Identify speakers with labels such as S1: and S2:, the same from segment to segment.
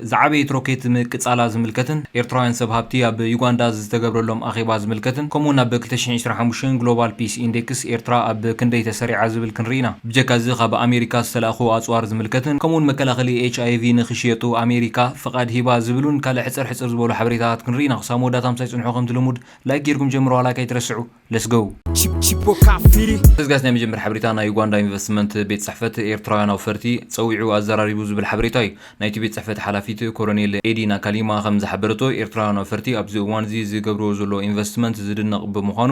S1: ዝዓበየት
S2: ሮኬት ምቅጻላ ዝምልከትን ኤርትራውያን ሰብ ሃብቲ ኣብ ዩጋንዳ ዝተገብረሎም ኣኼባ ዝምልከትን ከምኡውን ኣብ ክልተ ሽሕን ዕስራን ሓሙሽተን ግሎባል ፒስ ኢንዴክስ ኤርትራ ኣብ ክንደይ ተሰሪዓ ዝብል ክንርኢ ኢና። ብጀካ እዚ ካብ ኣሜሪካ ዝተላእኩ ኣጽዋር ዝምልከትን ከምኡውን መከላኸሊ ኤች ኣይ ቪ ንክሽየጡ ኣሜሪካ ፍቓድ ሂባ ዝብሉን ካልእ ሕጽር ሕጽር ዝበሉ ሓበሬታታት ክንርኢ ኢና። ክሳብ መወዳእታ ምሳይ ጽንሑ ከምቲ ልሙድ ላይክ ጌርኩም ጀምርዋ ላይክ ኣይትረስዑ። Let's go! እዚ ጋስ ናይ መጀመር ሓበሬታ ናይ ዩጋንዳ ኢንቨስትመንት ቤት ጽሕፈት ኤርትራውያን ኣውፈርቲ ጸዊዑ ኣዘራሪቡ ዝብል ሓበሬታ እዩ። ናይቲ ቤት ጽሕፈት ሓላፊት ኮረኔል ኤዲ ናካሊማ ከም ዝሓበረቶ፣ ኤርትራውያን ኣውፈርቲ ኣብዚ እዋን'ዚ ዝገብርዎ ዘለዉ ኢንቨስትመንት ዝድነቕ ብምዃኑ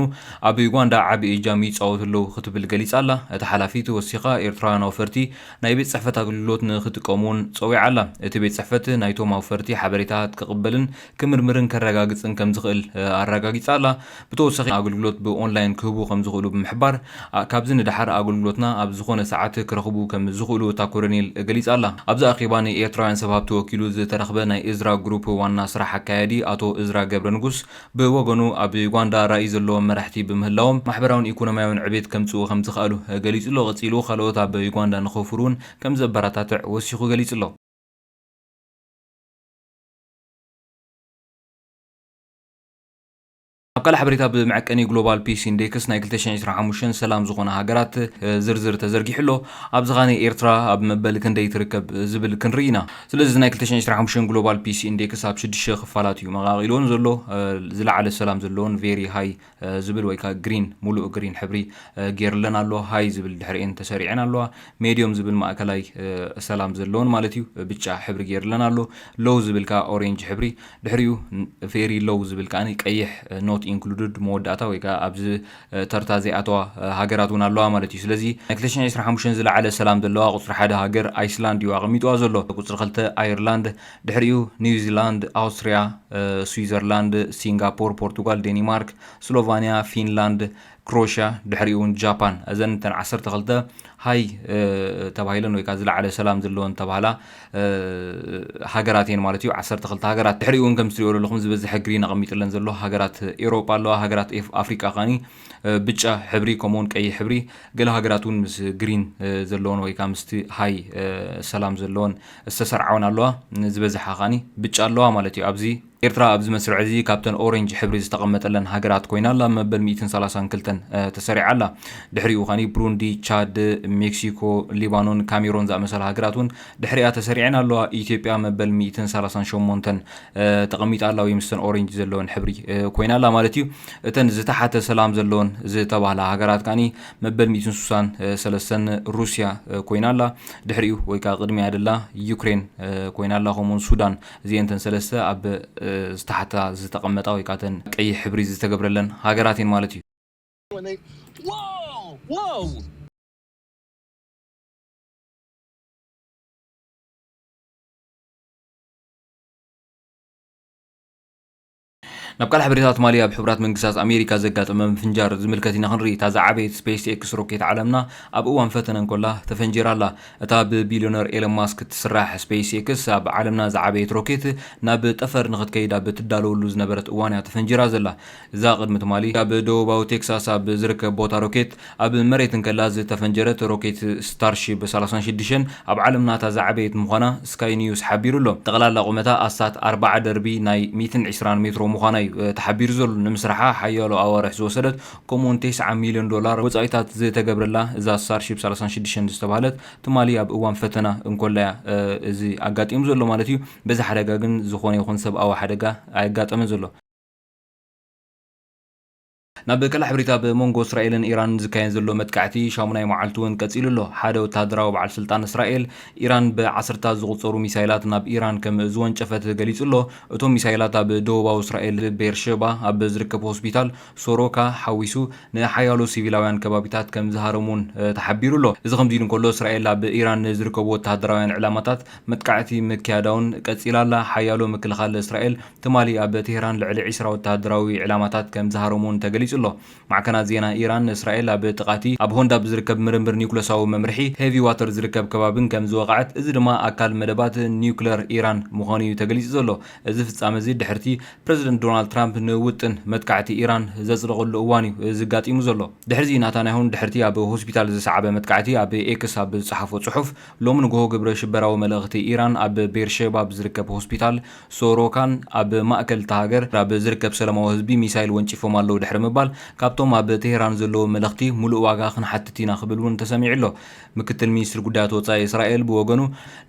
S2: ኣብ ዩጋንዳ ዓቢ እጃም ይጻወቱ ኣለዉ ክትብል ገሊጻ ኣላ። እታ ሓላፊት ወሲኻ ኤርትራውያን ኣውፈርቲ ናይ ቤት ጽሕፈት ኣገልግሎት ንኽጥቀሙ'ውን ጸዊዓ ኣላ። እቲ ቤት ጽሕፈት ናይቶም ኣውፈርቲ ሓበሬታታት ክቕበልን ክምርምርን ከረጋግጽን ከም ዝኽእል ኣረጋጊጻ ኣላ። ብተወሳኺ ኣገልግሎት ብኦንላይን ክህቡ ከም ዝኽእሉ ብምሕባር፣ ካብዚ ንደሓር ኣገልግሎትና ኣብ ዝኾነ ሰዓት ክረኽቡ ከም ዝኽእሉ እታ ኮሎኔል ገሊጻ ኣላ። ኣብዚ ኣኼባ ንኤርትራውያን ሰብ ሃብቲ ወኪሉ ዝተረኽበ ናይ እዝራ ግሩፕ ዋና ስራሕ ኣካያዲ ኣቶ እዝራ ገብረንጉስ ብወገኑ፣ ኣብ ዩጋንዳ ራኢ ዘለዎም መራሕቲ ብምህላዎም፣ ማሕበራውን ኢኮኖሚያውን ዕቤት ከምጽኡ ከም ዝኸኣሉ ገሊጹ'ሎ። ቀጺሉ ካልኦት ኣብ ዩጋንዳ ንኸውፍሩ'ውን ከም ዘበረታትዕ ወሲኹ ገሊጹ'ሎ። ኣብ ካልእ ሓበሬታ ብመዐቀኒ ግሎባል ፒስ ኢንዴክስ ናይ ክልተ ሽሕን ዕስራን ሓሙሽተን ሰላም ዝኾና ሃገራት ዝርዝር ተዘርጊሑ ኣሎ። ኣብዚ ኸኣ ንኤርትራ ኣብ መበል ክንደይ ትርከብ ዝብል ክንርኢ ኢና። ስለዚ እዚ ናይ ክልተ ሽሕን ዕስራን ሓሙሽተን ግሎባል ፒስ ኢንዴክስ ኣብ ሽዱሽተ ክፋላት እዩ መቓቒልወን ዘሎ። ዝለዓለ ሰላም ዘለወን፣ Very High፣ ዝብል ወይ ከኣ ግሪን፣ ሙሉእ ግሪን፣ ሕብሪ ጌርለን ኣሎ። ሃይ ዝብል ድሕሪኤን ተሰሪዔን ኣለዋ። ሜድዮም ዝብል ማእከላይ ሰላም ዘለወን ማለት እዩ ብጫ ሕብሪ ጌርለን ኣሎ። ሎው ዝብል ከኣ ኦሬንጅ ሕብሪ ድሕሪኡ ቬሪ ሎው ዝብል ከኣ ቀይሕ ኖት ኢንክሉድድ መወዳእታ ወይ ከኣ ኣብዚ ተርታ ዘይኣተዋ ሃገራት ውን ኣለዋ ማለት እዩ። ስለዚ ናይ ክልተ ሽሕን ዕስራን ሓሙሽተን ዝለዓለ ሰላም ዘለዋ ቁጽሪ ሓደ ሃገር ኣይስላንድ እዩ ኣቐሚጥዋ ዘሎ። ቁጽሪ ክልተ ኣየርላንድ፣ ድሕሪኡ ኒውዚላንድ፣ ኣውስትርያ፣ ስዊዘርላንድ፣ ሲንጋፖር፣ ፖርቱጋል፣ ዴኒማርክ፣ ስሎቫንያ፣ ፊንላንድ፣ ክሮሽያ ድሕሪኡ እውን ጃፓን እዘን እተን ዓሰርተ ክልተ ሃይ ተባሂለን ወይ ከዓ ዝለዓለ ሰላም ዘለወን ተባህላ ሃገራት እየን ማለት እዩ ዓሰርተ ክልተ ሃገራት ድሕሪኡ እውን ከም ትሪኦ ዘለኹም ዝበዝሐ ግሪን ኣቐሚጥለን ዘሎ ሃገራት ኤሮጳ ኣለዋ ሃገራት ኣፍሪቃ ካኒ ብጫ ሕብሪ ከምኡ እውን ቀይሕ ሕብሪ ገለ ሃገራት እውን ምስ ግሪን ዘለወን ወይ ከዓ ምስቲ ሃይ ሰላም ዘለወን ዝተሰርዓውን ኣለዋ ዝበዝሓ ከኣኒ ብጫ ኣለዋ ማለት እዩ ኣብዚ ኤርትራ ኣብዚ መስርዕ እዚ ካብተን ኦሬንጅ ሕብሪ ዝተቐመጠለን ሃገራት ኮይና ኣላ መበል ሚእትን ሰላሳን ክልተን ተሰሪዓ ኣላ ድሕሪኡ ከኣኒ ብሩንዲ ቻድ ሜክሲኮ ሊባኖን ካሜሮን ዝኣመሰላ ሃገራት እውን ድሕሪኣ ተሰሪዐን ኣለዋ ኢትዮጵያ መበል ሚእትን ሰላሳን ሸሞንተን ተቐሚጣ ኣላ ወይ ምስተን ኦሬንጅ ዘለወን ሕብሪ ኮይና ኣላ ማለት እዩ እተን ዝተሓተ ሰላም ዘለወን ዝተባህላ ሃገራት ከኣኒ መበል ሚእትን ሱሳን ሰለስተን ሩስያ ኮይና ኣላ፣ ድሕሪኡ ወይ ከኣ ቅድሚኣ ደላ ዩክሬን ኮይና ኣላ፣ ከምኡውን ሱዳን። እዚኤን እተን ሰለስተ ኣብ ዝተሓታ ዝተቐመጣ ወይ ከኣ እተን ቀይሕ ሕብሪ ዝተገብረለን ሃገራት እየን ማለት እዩ። ናብ ካልእ ሓበሬታ ትማሊ ኣብ ሕቡራት መንግስታት ኣሜሪካ ዘጋጠመ ምፍንጃር ዝምልከት ኢና ክንርኢ። እታ ዝዓበየት ስፔስ ኤክስ ሮኬት ዓለምና ኣብ እዋን ፈተነ እንኮላ ተፈንጂራ ኣላ። እታ ብቢልዮነር ኤለን ማስክ እትስራሕ ስፔስ ኤክስ ኣብ ዓለምና ዝዓበየት ሮኬት ናብ ጠፈር ንኽትከይድ ኣብ እትዳለወሉ ዝነበረት እዋን'ያ ተፈንጂራ ዘላ። እዛ ቅድሚ ትማሊ ኣብ ደቡባዊ ቴክሳስ ኣብ ዝርከብ ቦታ ሮኬት ኣብ መሬት እንከላ ዝተፈንጀረት ሮኬት ስታርሺብ ሰላሳን ሽዱሽተን ኣብ ዓለምና እታ ዝዓበየት ምዃና ስካይ ኒውስ ሓቢሩ ኣሎ። ጠቕላላ ቁመታ ኣስታት ኣርባዓ ደርቢ ናይ ሚእትን ዕስራን ሜትሮ ምዃና እዩ ተሓቢሩ ዘሎ። ንምስራሓ ሓያሎ ኣዋርሕ ዝወሰደት ከምኡ'ውን ቴስዓ ሚልዮን ዶላር ወጻኢታት ዝተገብረላ እዛ ስታርሺብ ሰላሳን ሽዱሽተን ዝተባህለት ትማሊ ኣብ እዋን ፈተና እንኮላ እያ እዚ ኣጋጢሙ ዘሎ ማለት እዩ። በዚ ሓደጋ ግን ዝኾነ ይኹን ሰብኣዊ ሓደጋ ኣየጋጠመን ዘሎ። ናብ ቀላሕ ብሪት ኣብ ሞንጎ እስራኤልን ኢራንን ዝካየን ዘሎ መጥቃዕቲ ሻሙናይ መዓልቱ እውን ቀፂሉ ኣሎ። ሓደ ወተሃደራዊ በዓል ስልጣን እስራኤል፣ ኢራን ብዓሰርተታት ዝቑፀሩ ሚሳይላት ናብ ኢራን ከም ዝወንጨፈት ገሊፁ ኣሎ። እቶም ሚሳይላት ኣብ ደቡባዊ እስራኤል ቤርሸባ ኣብ ዝርከብ ሆስፒታል ሶሮካ ሓዊሱ ንሓያሎ ሲቪላውያን ከባቢታት ከም ዝሃረሙ እውን ተሓቢሩ ኣሎ። እዚ ከምዚ ኢሉ እንከሎ እስራኤል ኣብ ኢራን ንዝርከቡ ወተሃደራውያን ዕላማታት መጥቃዕቲ ምክያዳ እውን ቀፂላ ኣላ። ሓያሎ ምክልኻል እስራኤል፣ ትማሊ ኣብ ቴህራን ልዕሊ ዕስራ ወተሃደራዊ ዕላማታት ከም ዝሃረሙ'ውን ተገሊጹ ኣሎ። ማዕከናት ዜና ኢራን፣ እስራኤል ኣብ ጥቓ'ቲ ኣብ ሆንዳ ብዝርከብ ምርምር ኒዩክለሳዊ መምርሒ ሄቪ ዋተር ዝርከብ ከባቢን ከም ዝወቐዐት፣ እዚ ድማ ኣካል መደባት ኒዩክለር ኢራን ምዃኑ'ዩ ተገሊጹ ዘሎ። እዚ ፍጻመ'ዚ ድሕሪ'ቲ ፕረዚደንት ዶናልድ ትራምፕ ንውጥን መጥቃዕቲ ኢራን ዘጽደቐሉ እዋን'ዩ እዚ ኣጋጢሙ ዘሎ። ድሕሪ'ዚ ናታንያሁን ድሕሪ'ቲ ኣብ ሆስፒታል ዝሰዓበ መጥቃዕቲ ኣብ ኤክስ ኣብ ዝጸሓፎ ጽሑፍ፣ ሎሚ ንግሆ ግብረ ሽበራዊ መለኽቲ ኢራን ኣብ ቤርሼባ ብዝርከብ ሆስፒታል ሶሮካን ኣብ ማእከል እታ ሃገር ናብ ዝርከብ ሰላማዊ ህዝቢ ሚሳይል ወንጪፎም ኣለዉ ድሕሪ ምባል፣ ካብቶም ኣብ ቴህራን ዘለዉ መለኽቲ ሙሉእ ዋጋ ክንሓትት ኢና ክብል እውን ተሰሚዑ ኣሎ። ምክትል ሚኒስትሪ ጉዳያት ወጻኢ እስራኤል ብወገኑ፣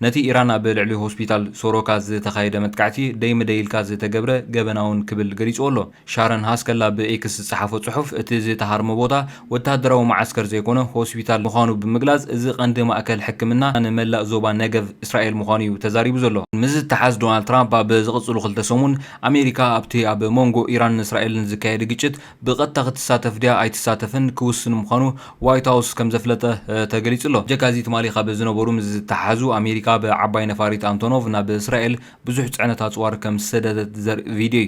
S2: ነቲ ኢራን ኣብ ልዕሊ ሆስፒታል ሶሮካ ዝተኻየደ መጥቃዕቲ ደይ ምደይ ኢልካ ዝተገብረ ገበናውን ክብል ገሊጽዎ ኣሎ። ሻረን ሃስከል ኣብ ኤክስ ዝጸሓፎ ጽሑፍ፣ እቲ ዝተሃርመ ቦታ ወተሃደራዊ መዓስከር ዘይኮነ ሆስፒታል ምዃኑ ብምግላጽ፣ እዚ ቀንዲ ማእከል ሕክምና ንመላእ ዞባ ነገቭ እስራኤል ምዃኑ'ዩ ተዛሪቡ ዘሎ። ምስ ዝተሓዝ ዶናልድ ትራምፕ ኣብ ዝቕጽሉ ክልተ ሰሙን፣ ኣሜሪካ ኣብቲ ኣብ መንጎ ኢራንን እስራኤልን ዝካየድ ግጭት ብቐጥታ ክትሳተፍ ድያ ኣይትሳተፍን ክውስን ምዃኑ ዋይት ሃውስ ከም ዘፍለጠ ተገሊጹ'ሎ። ብጀካ'ዚ ትማሊ ካብ ዝነበሩ ምስ ዝተሓሓዙ፣ ኣሜሪካ ብ ዓባይ ነፋሪት ኣንቶኖቭ ናብ እስራኤል ብዙሕ ጽዕነት ኣጽዋር ከም ዝሰደደት ዘርኢ ቪድዮ'ዩ።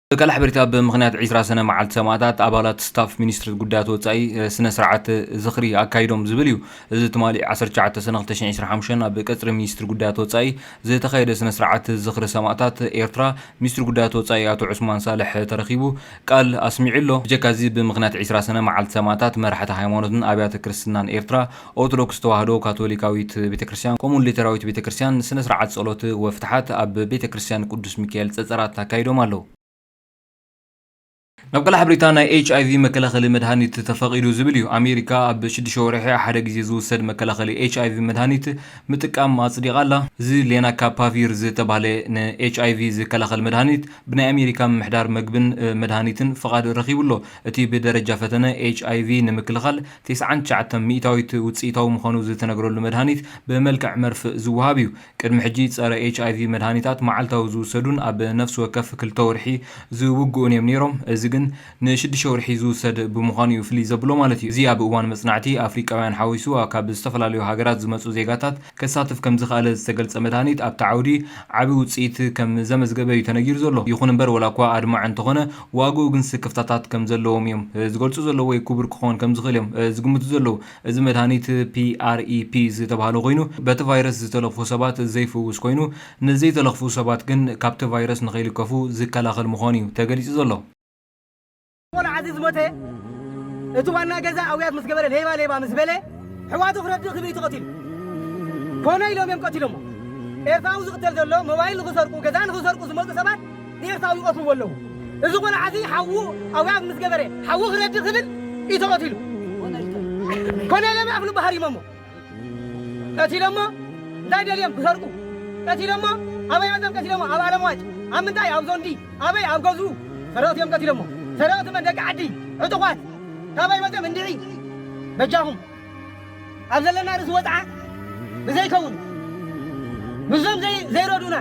S2: ብቃል ሓበሬታ ብ ምኽንያት ዕስራ ሰነ መዓልቲ ሰማእታት ኣባላት ስታፍ ሚኒስትሪ ጉዳያት ወፃኢ ስነ ስርዓት ዝኽሪ ኣካይዶም ዝብል እዩ። እዚ ትማሊ ዓሰርተ ትሽዓተ ሰነ ክልተ ሽሕን ዕስራን ሓሙሽተን ኣብ ቀፅሪ ሚኒስትሪ ጉዳያት ወፃኢ ዝተኻየደ ስነ ስርዓት ዝኽሪ ሰማእታት ኤርትራ ሚኒስትሪ ጉዳያት ወፃኢ ኣቶ ዑስማን ሳልሕ ተረኺቡ ቃል ኣስሚዑ ኣሎ። ብጀካ እዚ ብምኽንያት ዕስራ ሰነ መዓልቲ ሰማእታት መራሕቲ ሃይማኖትን ኣብያተ ክርስትናን ኤርትራ ኦርቶዶክስ ተዋህዶ፣ ካቶሊካዊት ቤተክርስትያን ከምኡውን ሊተራዊት ቤተክርስትያን ስነ ስርዓት ጸሎት ወፍትሓት ኣብ ቤተ ክርስትያን ቅዱስ ሚካኤል ጸጸራት ኣካይዶም ኣለዉ። ናብ ቀላሕ ብሪታ ናይ ኤች ኣይቪ መከላኸሊ መድሃኒት ተፈቒዱ ዝብል እዩ። ኣሜሪካ ኣብ ሽዱሽተ ወርሒ ሓደ ግዜ ዝውሰድ መከላኸሊ ኤች ኣይቪ መድሃኒት ምጥቃም ኣጽዲቓ ኣላ። እዚ ሌናካፓቪር ዝተባህለ ንኤች ኣይቪ ዝከላኸል መድሃኒት ብናይ ኣሜሪካ ምምሕዳር መግብን መድሃኒትን ፍቓድ ረኺቡ ኣሎ። እቲ ብደረጃ ፈተነ ኤች ኣይቪ ንምክልኻል ቴስዓን ትሽዓተን ሚኢታዊት ውጽኢታዊ ምዃኑ ዝተነግረሉ መድሃኒት ብመልክዕ መርፍእ ዝወሃብ እዩ። ቅድሚ ሕጂ ጸረ ኤችኣይቪ መድሃኒታት መዓልታዊ ዝውሰዱን ኣብ ነፍሲ ወከፍ ክልተ ወርሒ ዝውግኡን እዮም ነይሮም፣ እዚ ግን ንሽድሸውርሒ ዝውሰድ ብምዃኑ እዩ ፍልይ ዘብሎ ማለት እዩ። እዚ ኣብ እዋን መጽናዕቲ ኣፍሪቃውያን ሓዊሱ ካብ ዝተፈላለዩ ሃገራት ዝመጹ ዜጋታት ከሳትፍ ከም ዝኸኣለ ዝተገልጸ መድሃኒት ኣብቲ ዓውዲ ዓቢ ውጽኢት ከም ዘመዝገበ እዩ ተነጊሩ ዘሎ። ይኹን'ምበር ወላ'ኳ ኣድማዒ እንተኾነ፣ ዋግኡ ግን ስክፍታታት ከም ዘለዎም እዮም ዝገልጹ ዘለዉ ወይ ክቡር ክኾን ከም ዝኽእል እዮም ዝግምቱ ዘለዉ። እዚ መድሃኒት PrEP ዝተብሃለ ኮይኑ በቲ ቫይረስ ዝተለኽፉ ሰባት ዘይፍውስ ኮይኑ ንዘይተለኽፉ ሰባት ግን ካብቲ ቫይረስ ንኸይልከፉ ዝከላኸል ምዃኑ እዩ ተገሊጹ ዘሎ። ቆልዓ
S3: እዚ ዝሞተ እቲ ዋና ገዛ ኣውያት ምስ ገበረ ሌባ ሌባ ምስ በለ ሕዋቱ ክረድእ ክብእዩ ተቐቲሉ ኮነ ኢሎም እዮም ቀቲሎሞ። ኤርትራዊ ዝቕተል ዘሎ ሞባይል ንኽሰርቁ ገዛ ንኽሰርቁ ዝመጹ ሰባት ንኤርትራዊ ይቀትልዎ ኣለዉ እዚ ቆልዓ እዚ ሓዉ ኣውያት ምስ ገበረ ሓዉ ክረዲ ክብል እዩ ተቀቲሉ ኮነለ ምዕራፍ ልቡ ሃሪሞሞ ቀቲሎሞ እንታይ ደልዮም ክሰርቁ ቀቲሎሞ ኣበይ ኣዘም ቀቲሎሞ ኣብ ኣለምዋጭ ኣብ ምንታይ ኣብ ዞንዲ ኣበይ ኣብ ገዝኡ ሰረቕቲ እዮም ቀቲሎሞ ሰረቕቲ መን ደቂ ዓዲ ዕጡቋት ካበይ መፅኦም እንድዒ በጃኹም ኣብ ዘለና ርእሲ ወጽዓ ብዘይከውን ምስዞም ዘይረድኡና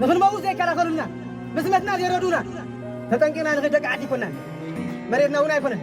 S3: ንኽንመውት ዘይከላኸሉልና ብስመትና ዘይረድኡና ተጠንቂቕና ንኽድ ደቂ ዓዲ ኣይኮናን መሬትና እውን ኣይኮነን።